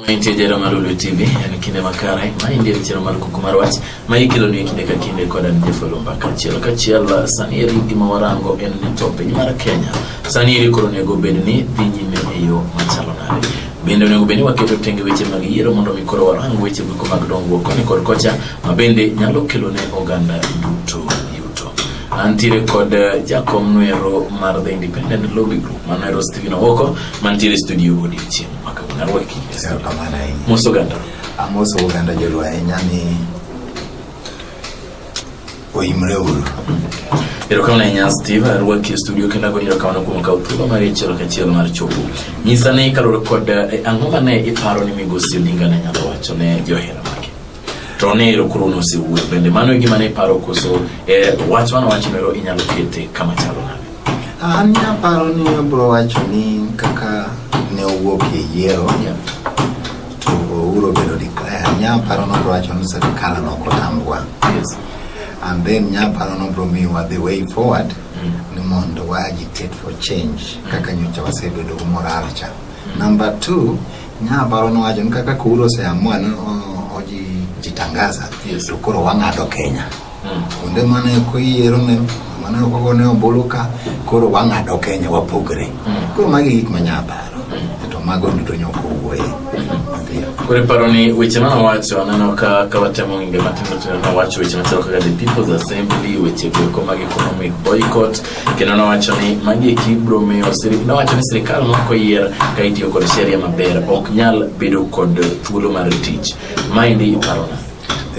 Mantie jera mar Ulu TV en kinde makare ma indie chero mar kuku mar wach ma ikelo ni kinde ka kinde kod an Jeff Olumba kachiel kachiel sani eri gima warango en ni to piny mar Kenya sani eri koro onego bed ni dhi nyime e yo machalo nade bende onego bed ni waketo tenge weche mag yiero mondo mi koro warang weche go mag dongruok koni kod kocha ma bende nyalo kelo ne oganda duto yuto antiere kod eh, jakom nwero mar the independent lobby group manwero Stephen Owoko mantiere studio odiochieng' amoso oganda joluo ahinya ni oimre uru erokamano ahinya steve arwaki e studio kendo ago erokamano kuom kawo thuolo mar achiel kachiel mar chopo nyisa ne kaluwore kod eh, ang'o ma ne iparo ni migosi odinga ne nyalo wacho ne johera to ne ero koro nosewuoyo bende mano e gima ne iparo koso e wach mano wach mero inyalo kete kama chalo nade an naparo ni abro wacho ni kaka ne owuok e yiero to ouro bedo declare nyaparo nobro wacho ni serikal nokotambwa yes. and then nyaparo nobro miwa the way forward mm. ni mondo wa agitate for change kaka nyocha wasebedo moral cha mm. number two Nya paro nowacho ni kaka kuro oseamua ni o- oji jitangaza Yes. to koro wang'ado Kenya. Mm. Kuonde mane ok oyiero ne mane ok ogone ombulu ka koro wang'ado Kenya wapogre. Mm. Koro magi gik ma nya paro. To mago duto nyok owuoye. Ndio. Koro iparo ni weche mane owacho aneno ka ka watemo ng'inge matindo tindo ne owacho weche machalo kaka the people's assembly weche goeko mag economic boycott kendo nowacho ni magi eki biro miyo nowacho ni sirikal moko yier ka itiyo kod sheria maber ok nyal bedo kod thuolo mar tich maendi iparona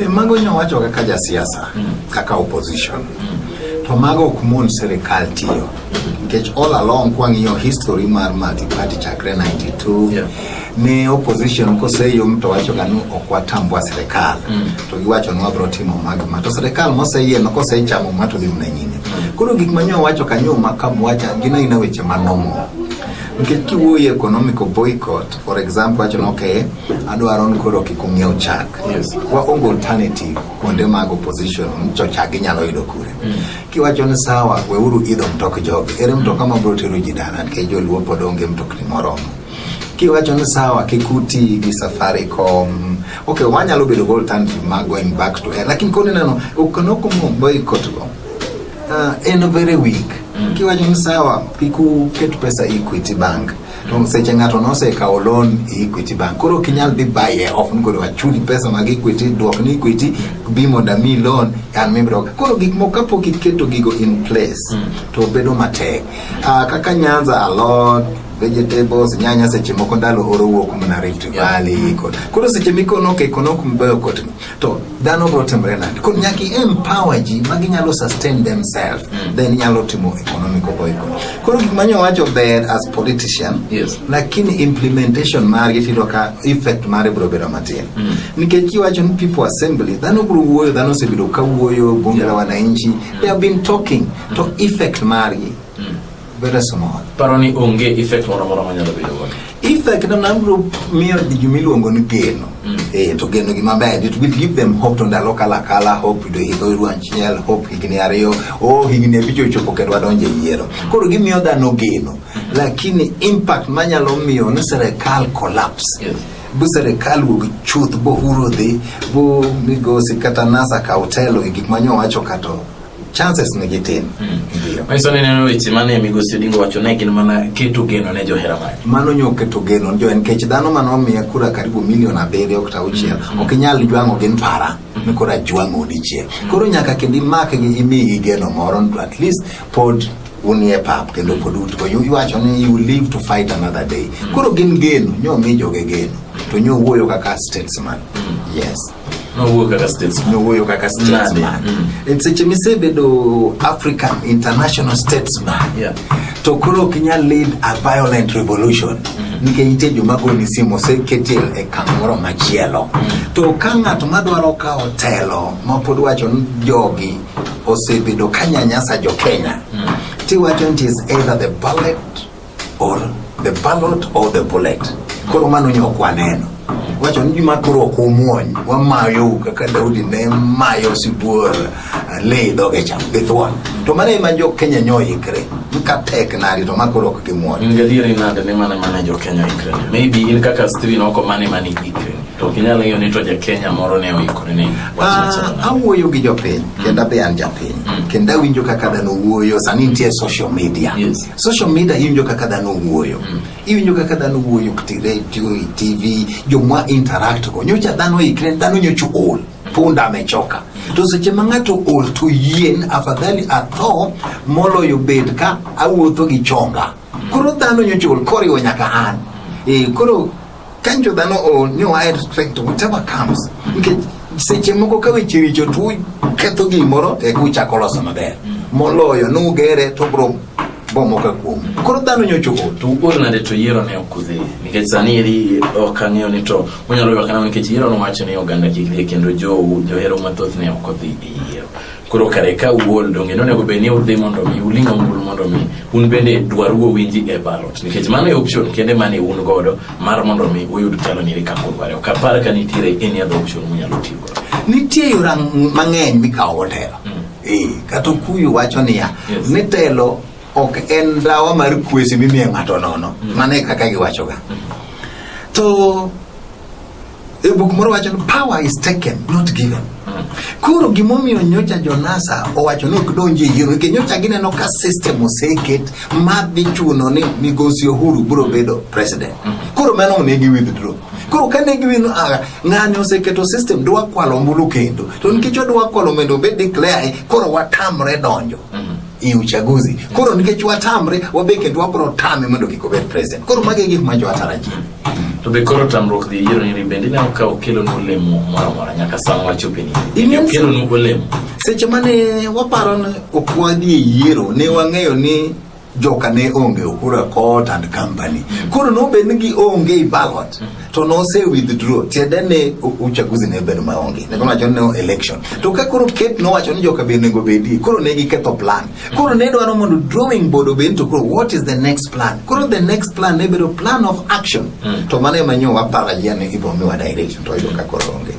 e, mago nyowacho kaka jasiasa mm. kaka opposition mm. to mago ok mon sirikal tiyo nikech all along kwang'iyo history mar multiparty chakre 92 yeah. ne opposition koseyo to wacho ganu ok watambua sirikal mm. to giwacho ni wabiro timo mago ma to sirikal moseyie no kosechamo ma to dhi mna nyime mm. koro gik manyo wacho kanyo ma kamwacha gina ina weche manomo nikech kiwuoyo economical boycott for example wacho ni okay adwaro ni koro kik ung'iew chak yes. waonge alternative kuonde mag opposition to chak ginyalo yudo kure mm. kiwacho ni sawa weuru idho mtok jogi ere mtoka mabiro tero ji dala nikech joluo pod onge mtokni moromo kiwacho ni sawa kik uti gi safaricom ok wanyalo bedo go alternative ma going back to air lakini koni neno okanokomo boycott go uh, en very weak mm. kiwacho ni sawa kik uket pesa e equity bank to seche ng'ato nosekawo loan e equity bank koro ok inyal dhi baye off ni koro achuli pesa mag equity dwok ni equity bi mondo ami loan an mibiro koro gik moko kapok iketo gigo in place mm. to bedo matek uh, kaka nyanza a lot vegetables nyanya seche moko ndalo oro wuok mana Rift Valley kod koro seche mikono ke kono kumbeyo kot to dhano bro timre nade koro nyaka empower ji ma ginyalo sustain themselves mm. then nyalo timo economic obo economy koro gik manyo wacho ber as politician yes. lakini implementation mari tiro ka effect mari bro bedo matin mm. nikech kiwacho ni people assembly dhano bro wuoyo dhano osebedo ka wuoyo bunge la wananchi mm. they have been talking mm. to effect mari Very small. Paro ni onge effect moro moro manyalo bedo godo. Effect na nabro miyo gima iluongo ni geno. Mm. Eh, to geno gima ber. It will give them hope to ndalo kala kala hope do hidho ruan chiel hope higni ariyo. Oh, higni abich ochopo kendo wadonje yiero. Koro gimiyo dhano geno. Mm. Lakini impact manyalo miyo ni serikal collapse. Yes. bu serikal wuog chuth bohuro dhi bu migosi kata nasa ka otelo e gik manyo wacho kato chances ne gitin mm. manyiso ni neno weche mane migosi Odingo wacho ne gin mana keto geno ne johera mage mano nyo keto geno jo en kech dhano mano miya kura karibu milion abiriyo kata auchiel mm. ok inyal jwang'o gin para mm. ni koro ajwang'o dichiel mm. koro nyaka kendo imak gi imigi geno moro at least pod unie pap kendo pod utgo iwacho ni you live to fight another day mm. koro gin geno nyo mi joge geno to nyo wuoyo kaka statesman mm. yes nowuoyo kaka statesman nowuoyo kaka statesman mm. e seche misebedo african international statesman yeah. to koro ok inyal lead a violent revolution mm -hmm. nikech nitie joma goni simu oseketie e kamoro machielo mm -hmm. to ka ng'at madwaro kawo telo mapod wacho ni jogi osebedo kanyanyasa jo kenya mm -hmm. tiwacho nti is either the ballot or the ballot or the bullet. Koro mano nyo kwa neno wacho ni gima koro ok umuony wamayo kaka Daudi ne mayo sibuor eh, le dhoge cham githuon to mano ema jo Kenya nyo ikre ka tek nadi to makoro ok gimuony in gadieri nade ni mano ema ne jo Kenya ikre maybe in kaka stri noko mano ema ne ikre to ok inyal ng'eyo ni to ja Kenya moro ne oikore ne ah, awuoyo gi jopiny kendo be an japiny mm. kendo awinjo kaka dhano wuoyo sani nitie social media yes. Social media iwinjo kaka dhano wuoyo. Mm. Iwinjo kaka dhano wuoyo kti radio, e TV, jomwa interact go. Nyocha dhano ikre, dhano nyocha ol. Punda amechoka. Mm. To seche ma ng'ato ol to yien afadhali atho moloyo bed ka awuotho gi chonga. Mm. Koro dhano nyocha ol koriwo nyaka an. E, koro Kanyo jo dhano o ni wa e respect whatever comes. Nikech seche moko ka weche richo tu ketho gimoro e ku chako loso maber. Moloyo nu gere to bro bomo ka kuom. Koro dhano nyocho o. To wuod nade to yiero ne okudhi. Nikech sani eri ok ang'eyo ni to unyalo ywak nang'o nikech yiero nowacho ni oganda kik dhi kendo jo johero mathoth ne ok odhi e yiero. Koro kare ka uol donge nonego bed ni udhi mondo mi uling' ombulu mondo mi un bende dwaru owinji e ballot nikech mano e option kende mane un godo mar mondo mi uyud telo niri kaka udware ok apar ka nitiere any other option munyalo tiyo godo nitie yora mang'eny mikawo go telo Eh, kata okuyu wacho niya Yes. ni telo ok en dawa mar kwesi mimiyo ng'ato nono mano e kaka giwachoga to E buk moro wacho ni power is taken not given. Koro gimomiyo nyocha Jonasa owacho ni ok donji e yiero nikech nyocha gineno ka system oseket ma dhi chuno ni migosi Uhuru biro bedo president. Koro mano ne gi withdraw. Koro ka ne giwino aga ng'ani oseketo system dwa kwalo ombulu kendo to nikech odwa kwalo mondo obed declare koro watamre donjo. i uchaguzi koro nikech watamre wabe kendo wabro tame mondo kik obed president koro magi gik ma jowatarajia to be koro tamruok dhi yiero ni bende ne ka okelo nu olemo moro amora nyaka sama wachope ni okelo nu olemo seche mane waparo ni ok wadhi e yiero ne wang'eyo ni joka ne onge okura court and company mm. koro nobed ni gionge i ballot mm. to nose withdraw tiende ni uchaguzi ne bedo maonge ne kono wacho ni no election to ka koro ket no wacho ni joka be nego bedi koro ne giketho plan koro ne dwaro mondo drawing board obed to koro what is the next plan koro the next plan ne bedo plan of action mm. to mano ema nyo wapara yane ibo miwa direction to yudo ka koro onge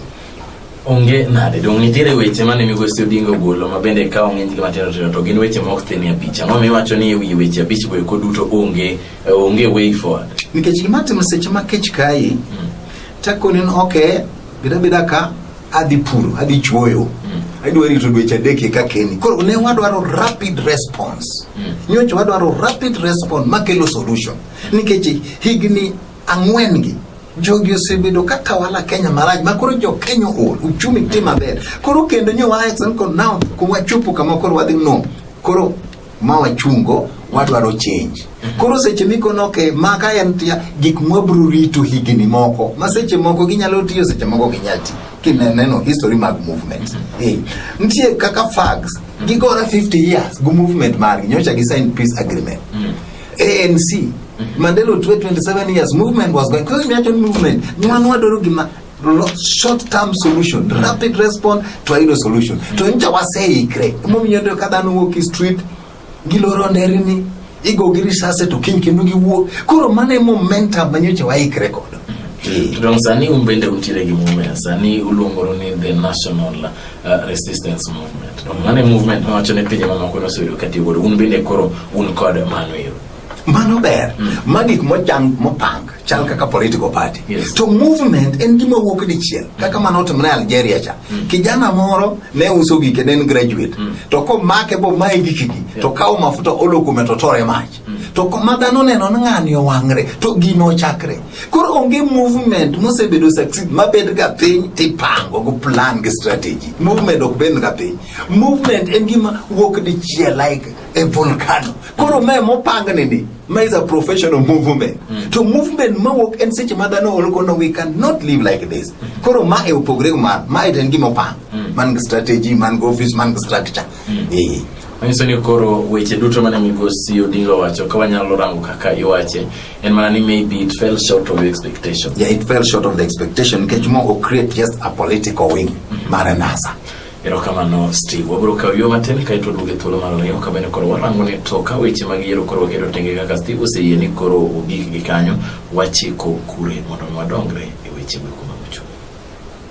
Onge nade dong' nitiere weche mane migosi Odinga ogolo ma bende kawo ng'eny gi matindo tindo to gin weche maok thinie abich. Ang'o miwacho ni ewi weche abich go eko duto onge onge way forward? Nikech gima timo seche ma kech kayi hmm. takoni ni okay bida bida ka adhi puro adhi chuoyo hmm. adwa rito dweche adek eka keni. Koro ne wadwaro rapid response. Hmm. Nyocha wadwaro rapid response makelo solution. Nikech higni ang'wen gi jogi osebedo ka tawala Kenya marach ma koro jo Kenya ool uchumi ti maber koro kendo nyo wa action ko now ko wachopo kama koro wadhi no koro ma wachungo wadwaro change koro seche mikono ke maka en tia gik mwabro rito higni moko ma seche moko ginyalo tiyo seche moko ginyalo ti kineno history mag movement hey. Eh, nitie kaka fags gigora 50 years go movement margi nyocha gi sign peace agreement mm. ANC mm -hmm. Mandela Otwe 27 years movement was going because the movement ni wanu wadoro gima short term solution mm -hmm. rapid response to hilo solution mm -hmm. to nja waseikre momiyo ndio kadha nuwo ki street giloro nderini igo gi risase to kiny kendo giwuok koro mano e momentum manyocha waikre kodo mm -hmm. Dong sani un bende utiere gi mumea sani uluongoro ni the national Uh, resistance movement no mano e movement mawacho ni pinje mamoko noseyudo katiyo godo un bende koro un kod mano ero mano ber mm. ma gik mochan mopang chal mm. kaka political party yes. to movement en gima wuok dichiel mm. kaka mano otimre algeria cha mm. kijana moro ne uso gike ne en graduate mm. to komake bo mae gikigi yeah. to kawo mafuta olo kume to tore mach to kuma dhano neno ni ng'ani owang're to gino ochakre koro onge movement mosebedo succeed mabed ga piny tipango go plan gi strategy movement ok bed ga piny movement en gima wuok dichiel like a volcano koro mae mopangni ni ma is a professional movement mm. to movement mawuok en seche ma dhano olgono we can not live like this mm. koro ma e opogre ma ma en gima opang mm. man gi strategy man gi office man gi structure mm. Manyiso ni koro weche duto mane migosi Odinga owacho ka wanyalo rango kaka iwache en mana ni maybe it fell short of expectation. Yeah, it fell short of the expectation nikech mogo create just a political wing mm-hmm. mar NASA. Erokamano Steve, wabiro kawo yo matin kaeto duoge thuolo mar ariyo ka bende koro warango ni to ka weche mag yiero koro waketo tenge kaka Steve oseyie ni koro ogik gi kanyo wachiko kure mondo wadongre e weche go kuma mochung'.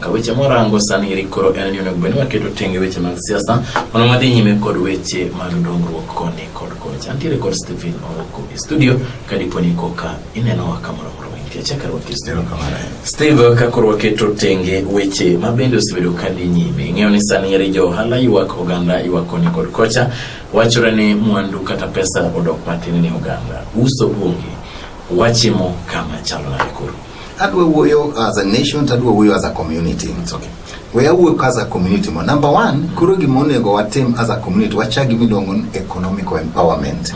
Ka weche morango sani eri koro en ni onego bed ni waketo tenge weche mag siasa mondo wadhi nyime kod weche mag dongruok koni kod kocha. Antiere kod Stephen Oroko e studio ka dipo ni koka inenowa kamoro moro mantie chakre wakistero kamano. Steve ka koro waketo tenge weche ma bende osebedo ka dhi nyime. Ing'eyo ni sani eri jo ohala ywak oganda ywak koni kod kocha. Wachore ni mwandu kata pesa odok matin ni oganda. Uso onge. Wachimo kama chalo nade koro? Adwa wuoyo as a nation to adwa wuoyo as a community. It's okay. We awuoyo ka as a community mo. Number one, koro gima onego watim as a community, wachak gima iluongo ni economical empowerment.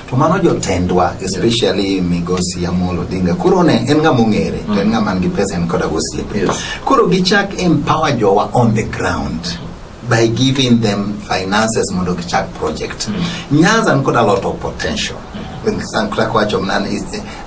To mano jotendwa, especially Migosi Amolo Odinga, koro ne en ng'ama ong'ere, to en ng'ama nigi pesa en koda gosiepe. Yes. Koro gichak empower jowa on the ground by giving them finances mondo gichak project. Nyanza nikod a lot of potential. San Clara wacho mnani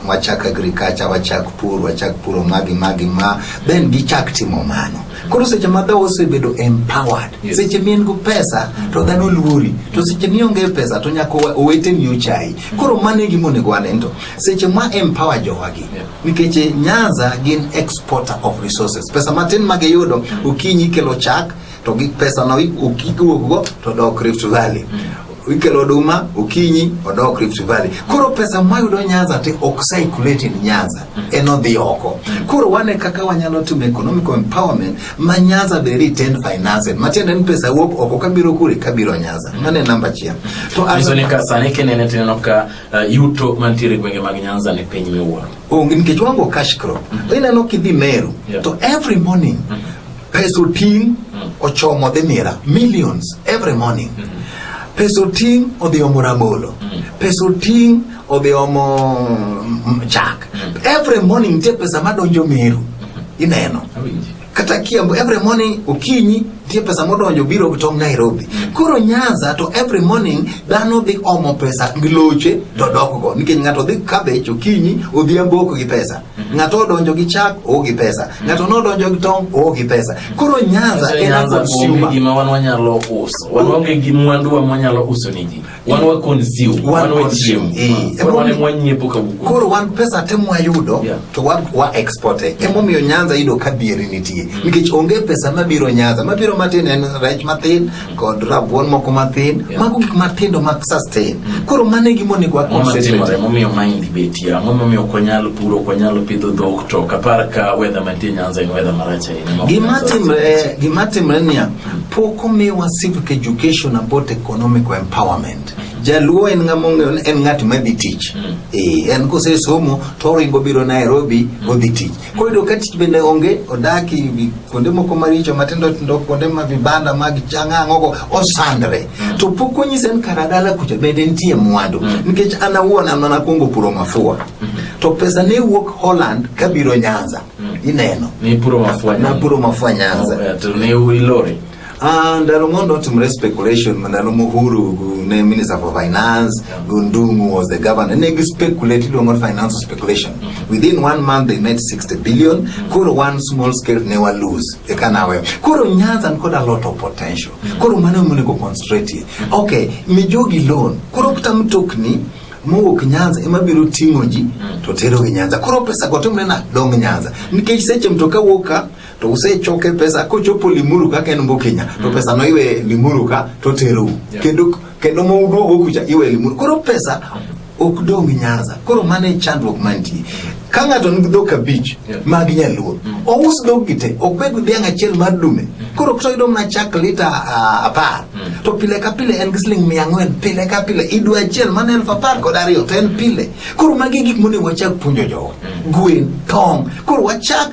wachak agriculture wachak pur wachak puro magi magi ma then gichak timo mano koro seche ma dhao osebedo empowered yes. seche mien go pesa to dhano luori to seche mionge pesa to nyaka owete ni ochai koro mano e gima onego wanento seche ma empower jowagi nikech eh, nyanza gin exporter of resources pesa matin magiyudo okinyi kelo chak to gi pesano iduogo to dok Rift Valley mm. ikelo oduma okinyi odok Rift Valley. Koro pesa mayudo Nyanza te ok circulate in Nyanza, mm. en odhi oko. Mm. Koro wane kaka wanyalo timo economic empowerment ma Nyanza be retain finance. Matiende ni pesa wuok oko kabiro kure kabiro Nyanza. Mane namba achiel. To aso ni ka sani kinene tineno ka uh, yuto mantiere gwenge mag Nyanza ni piny miwuoro. Onge nikech wango cash crop. Ineno kidhi Meru to every morning Pes oting' mm. ochomo dhi mira millions every morning. Mm-hmm. Pes oting' odhi omo rabolo. Mm. Pes oting' odhi omo mm, chak. Mm. Every morning nitie pesa madonjo Meru. Mm-hmm. Ineno. Kata Kiambu every morning okinyi nitie pesa modonjo biro tong' Nairobi. Koro Nyanza to every morning dhano dhi omo pesa gi loche to dokgo nikech ng'ato dhi cabbage okinyi odhiambo ok gi pesa. Ng'ato odonjo gi chak, oo gi pesa. Ng'ato nodonjo gi tong', oo gi pesa. Koro Nyanza en a consumer. Gima wan wanyalo uso. Wan onge gi mwandu wa mwanyalo uso ni ji. Wan wa consume. Wan wa chiemo. Eh, wan wa nyiepo ka wuku. Koro wan pesa te mwayudo to wan wa export. E. Emomiyo Nyanza yudo ka dhieri nitie. Mm. Nikech onge pesa mabiro Nyanza. Mabiro matin en rech matin. kod rabuon moko mathin yeah. mago gik matindo mag sustain mm. koro mane gima onego wakonmomiyo mahindi betie ang'o momiyo ok wanyal puro ok wanyal pidho dhok to kapar ka wedha mantie nyanza en wedha marach ahinya gima timre niya pok omiwa civic education about economic empowerment mm. Jaluo en ng'ama en ng'at ma dhi tich. Mm. Eh, en kose somo to oringo biro Nairobi mm. odhi tich. Koyudo ka tich bende onge, odaki vi- kuonde moko maricho matindo tindo, kuonde ma vibanda mag chang'ang'ogo osandre, to pok onyise ni kara dala kucha bende nitie mwandu, nikech an awuon an mana kuongo puro mafua, to pesa ne wuok Holland kabiro Nyanza, ineno, Ni puro mafua. napuro mafua Nyanza. Oh, eh, To ne ilori. Ah, ndalo mondo otimre speculation ndalo mohuru gu- ne minister for finance gundumu was the governor ne gi speculate iluongo ni financial speculation within one month they made 60 billion koro one small scale ne wa lose eka nawe koro nyanza nikod a lot of potential koro mano monego concentrate ye. okay mijogi loan koro kata mtokni mowuok nyanza ema biro ting'o ji to terogi nyanza koro pesa go timre na dong nyanza nikech seche mtoka wuok ka to usechoke pesa kochopo limuru kaka en mbo Kenya to mm. pesa no iwe limuru ka to teru yeah. kendo kendo mo uduogo kucha iwe limuru koro pesa ok dong nyaza koro mane e chandruok mantie ka ng'ato nigi dhok abich yeah. mag nyaluo mm. ous dhok gi te ok bed dhiang' achiel mar dume mm. koro to yudo mana chak lita uh, apar mm. to pile ka pile en gi siling mia ang'wen pile ka pile idwa achiel mana elfu apar kod ariyo to en pile koro magi gik monego wachak puonjo jowa mm. gwen tong koro wachak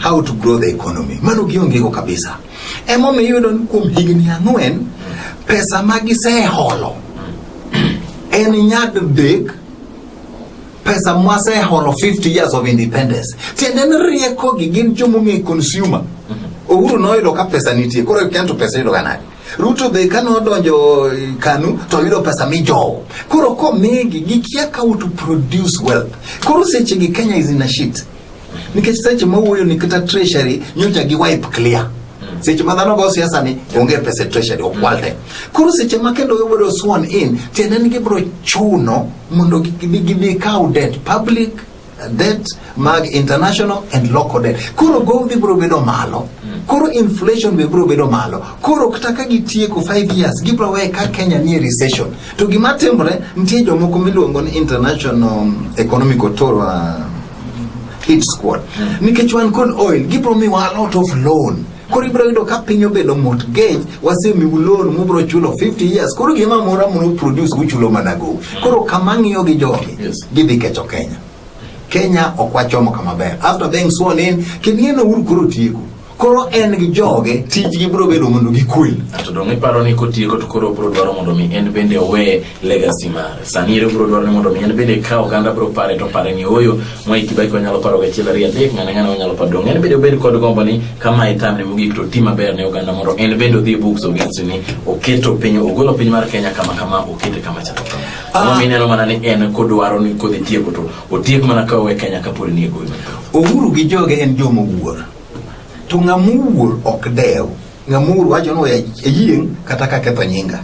how to grow the economy. Mano giongego kabisa. Emomiyo iyudo ni kuom higni ang'wen pesa ma giseholo en nyadidek pesa mwaseholo 50 years of independence. Tiende ni riekogi gin joma ong'e consumer. Uhuru noyudo ka pesa nitie, koro ikia to pesa yudoga nade? Ruto be ka nodonjo eh, Kanu to yudo pesa mijowo. Koro komigi gikia how to produce wealth. Koro sechegi Kenya is in a shit. nikech seche ma wuoyo ni kata treasury nyocha gi wipe clear seche ma dhano go siasa ni onge pesa e treasury okwal te koro seche ma kendo gibiro sworn in tiende ni gibiro chuno mondo gidhi kaw debt public uh, debt mag international and local debt koro gowi biro bedo malo koro inflation be biro bedo malo koro kata ka gitieko 5 years gibiro weye ka kenya nie recession To gima timore, nitie jomoko miluongo ni International Economic Authority uh, hit squad. Mm. Nikech wan kod oil, gibro miwa a lot of loan. Koro ibro yudo ka piny obedo mortgage, wasemiu loan mubro chulo 50 years. Koro gima mora mono produce uchulo mana go. Koro kama ng'iyo gi jogi, yes. gidhi kecho Kenya. Kenya ok wachomo kama ber. After being sworn in, kineno uru koro tieko. koro en gi joge tijgi biro bedo mondo gikwe to dong' iparo ni kotieko to koro biro dwaro mondo mi en bende owe legacy mare sani ero biro dwaro ni mondo mi en bende ka oganda biro pare to pare ni oyo Mwai Kibaki wanyalo paro gachiel ariyo adek ng'ane ng'ane wanyalo paro dong' en bende obed kod gombo ni kama e tamne mogik to ti maber ne oganda mondo en bende odhi e books of history ni oketo piny ogolo piny mar Kenya kama kama okete kama chalo kama Ah. Ang'o mineno mana ni en kodwaro ni kodhi tieko to otiek mana ka owe Kenya kapod ni e goyo Uhuru gi joge en jomowuor To ng'ama owuor ok dew, ng'ama owuor wacho ni ayieng' kata ka ketho nyinga.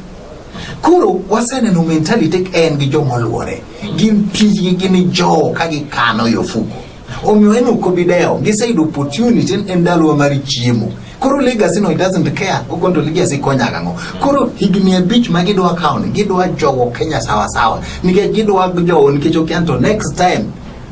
Koro waseneno mentality en gi joma oluore, gin tijgi gin jowo ka gikano e ofuko. Omiyo en ok obi dewo, giseyudo opportunity en ndalowa mar chiemo. Koro legacy no it doesn't care, okonto legacy konya gang'o. Koro higni abich ma gidwa kawo ni gidwa jowo Kenya sawa sawa, nikech gidwa jowo nikech okian to next time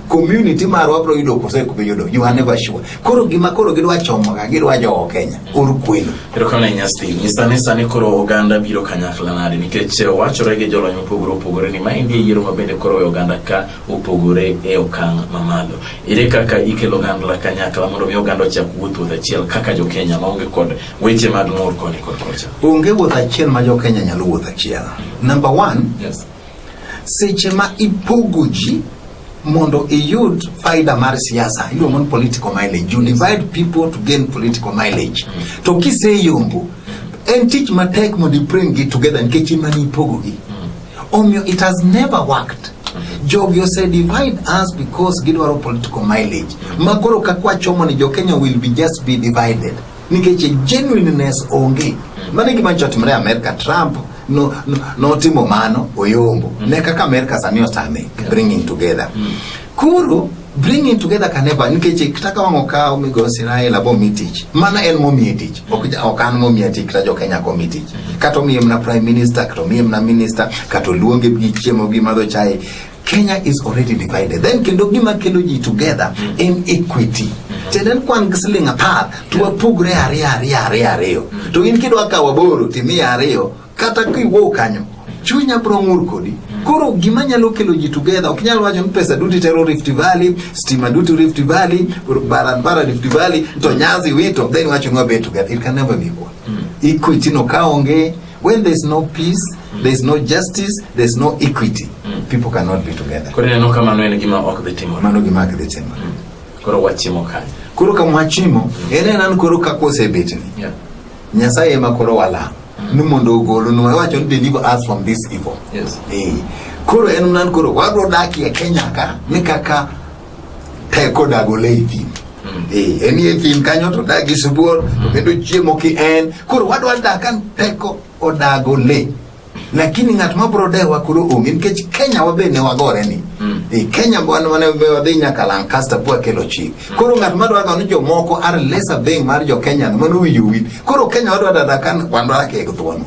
community marwa bro yudo kose ko yudo you are never sure koro gima koro gidwa chomo ga gidwa jo Kenya uru kwelo ero kana nyasti ni sani sani koro oganda biro kanyakla nade nikech wachore gi jolony mopogore opogore ni ma endi yiero ma bende koro oganda ka opogore e okang' mamalo ere kaka ikelo oganda kanyakla mondo mi oganda ochak wuoth wuoth achiel kaka jo Kenya ma onge kod weche mag ng'ur koni kod kocha onge wuoth achiel ma jo Kenya nyalo wuoth achiel number 1 yes Seche ma ipogo ji mondo iyud faida mar siasa iluongo ni political mileage you divide people to gain political mileage mm. to kiseyombo en tich matek mondo ipring gi together nikech ema ni ipogogi mm. omiyo it has never worked mm-hmm. jogi ose divide us because gidwaro political mileage mm. ma koro kakwachomo ni jokenya will be just be divided nikech genuineness onge. Mm. Mano e gima nyocha otimore Amerka. Trump notimo mano oyombo mm. ne kaka Amerka sani otame bringing together. Mm. Koro bringing together can never nikech kata ka wang'o kawo migo Israel abo mi tich mana en momiye tich ok ok an momiye tich kata jo Kenya ko mi tich kata omiye na prime minister kata omiye na minister kata luonge gi chiemo gi madho chai Kenya is already divided. Then kendo gima kelo ji together mm. in equity. Tiende ni kwan gi siling apar to wapogre ariyo ariyo ariyo ariyo. Mm. To in kidwa kawo aboro to imiya ariyo kata kiwuok kanyo chunya bro ng'ur kodi. Mm. Koro gima nyalo kelo ji together ok nyal wacho ni pesa duto itero Rift Valley, stima duto Rift Valley, barabara Rift Valley to Nyazi wito then wacho ni wabet together. It can never be equal. Equity no kaonge When there's no peace, there's no justice, there's no equity. Mm. People cannot be together. Koro neno kama no en gima ok dhi timore. Mano gima ok dhi timore. Mm. Koro wachimo kanye. Koro kama wachimo, en en an koro kaka osebetni. Yeah. Nyasaye ema koro walamo. Mm. Ni mondo ogolunwa wacho ni deliver us from this evil. Yes. Eh. Koro en nan koro wadwa dakie Kenya ka ni kaka teko dago le e thim mm. eh, en e thim kanyo to dag gi sibuor to mm. kendo chiemo ki en koro wadwa dak kan teko odago le lakini ng'at ma bro dewa koro onge nikech kenya wabe ne wagore ni mm. e kenya wan wane wadhi nyaka lancaster po akelo chik mm. koro ng'at ma dwaga ni jomoko are lesser thing mar jo kenya mano winjo wit koro kenya wadwa dada kan wandwa kek thuono